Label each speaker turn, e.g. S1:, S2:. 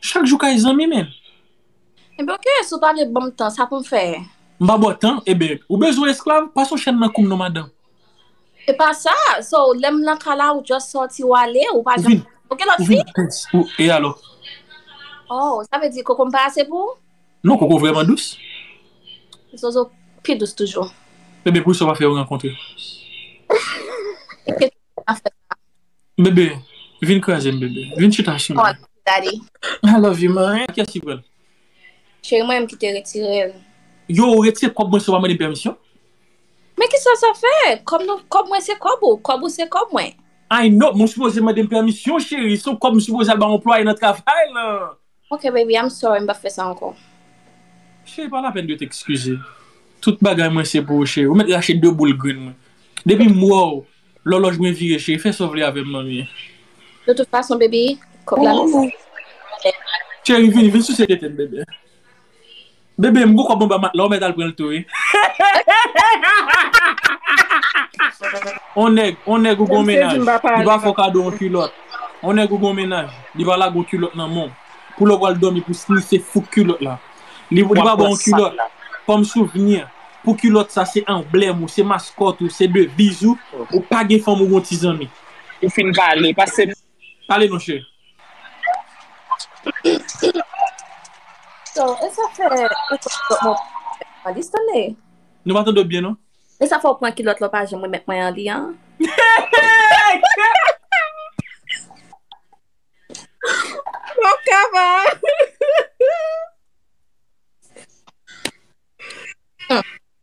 S1: Chak jou kay zanmi menm. Enben
S2: ok si w pa vle banm tan sa pou m fè. M pa ba w tan
S1: enben ou bezwen esklav pase w chèn nan kou m non madanm. E pa
S2: sa so lè m nan kay la ou just sòti ou ale ou pa janm Ou gen lòt fi? E alò?
S1: Oh
S2: sa vle di koko m pa ase pou ou? Non koko w vrèman
S1: dous.
S2: Zozo pi dous toujou. Enben poukisa w pa fè
S1: yo rankontre?
S2: Kèt ou pa fè sa. Bebe,
S1: vin kraze m bebe. Vin chita sou mwen. I
S2: love you man.
S1: Ki yès ki pran l? Cheri mwen
S2: m ki te retire l. Yo ou retire
S1: kòb mwen san w pa mande m pèmisyon? Men
S2: kisa sa fè? Kòb mwen se kòb ou. Kòb ou se kòb mwen. I know men w
S1: sipoze mande m pèmisyon cheri. Se w kòb m sipoze al bay anplwaye nan travay lan. Ok baby I'm
S2: sorry m pap fè sa ankò. Cheri
S1: pa lapenn de t ekskize. Tout bagay mwen se pou ou cheri. Ou mèt rache 2 boul grenn mwen. Depi m wè w lòlòj mwen vire cheri fè sa w vle avè m manmie. De tout
S2: fason baby kòb la nan men w.
S1: Cheri vini vin souse tete m bebe. Bebe m poko bon ba matla ou mèt al pranl tou wi. On nèg on nèg ou gon mennaj li pa fè w kado on kilòt on nèg ou gon mennaj li pa lage on kilòt nan men w pou lè w pral dòmi pou snise fouk kilòt la li pa ba w on kilòt kòm souvni pou kilòt sa se anblèm ou se maskòt ou se deviz ou ou pa gen fanm ou gon ti zanmi. Ou fin pale,
S3: pase m. Pale non
S1: cheri.
S2: So, e sa fè e sa fè mwen an li stane? Nou pa tande w byen non.
S1: E sa fè w pran kilòt
S2: la w pa janm remèt mwen an li an? Map kaba.